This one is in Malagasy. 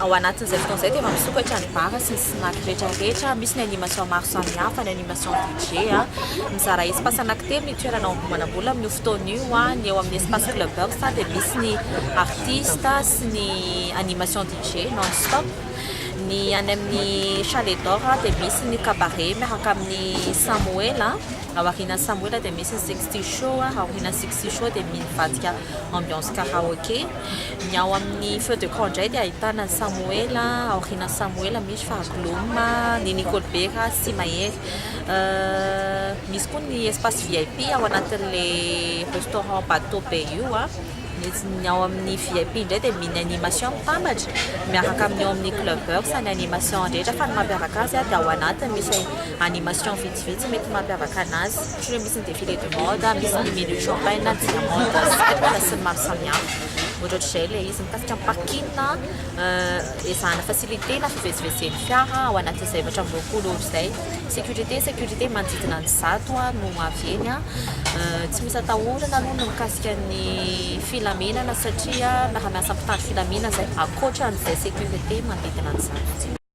Ao anatin'izay fotoana izay dia efa misokatra ny bar sy ny snack rehetrarehetra, misy ny animation maro samihafa, ny animation DJ. Mizara espace anankitelo ny toerana ao Ambohimanambola amin'io fotoana io, ny eo amin'ny espace clubbers dia misy ny artiste sy ny animation DJ non stop, ny any amin'ny chalet d'or dia misy ny cabaret miaraka amin'ny samoel, ao aorianan'ny samoel dia misy ny sexy show, ao aorianan'ny sexy show dia mivadika ambiance karaoke. Ny ao amin'ny feu de camp indray dia ahitana an'i Samoela, aorianan'i Samoela misy Fahagloma, ny Nikolbera sy Mahery. Misy koa ny espace vip ao anatin'ilay restaurant bateau be io. Ny ao amin'ny vip indray dia mini animation mitambatra miaraka amin'ny ao amin'ny clubbers ny animation rehetra fa ny mampiavaka azy dia ao anatiny misy animation vitsivitsy mety mampiavaka anazy. Ohatrany hoe misy ny défilé de mode, misy ny menu champagne, diamande sy ny taratra sy ny maro samihafa. Ohatra ohatr'izay ilay izy mikasika ny parking, ezahana faciliter-na fivezivezen'ny fiara ao anatin'izay efatra amby roapolo ora izay. Sécurité, sécurité manodidina ny zato no avy eny. Tsy misy atahorana aloha ny mikasika ny filaminana satria miara-miasa mpitandro filaminana izay ankoatra an'izay sécurité manodidina ny zato.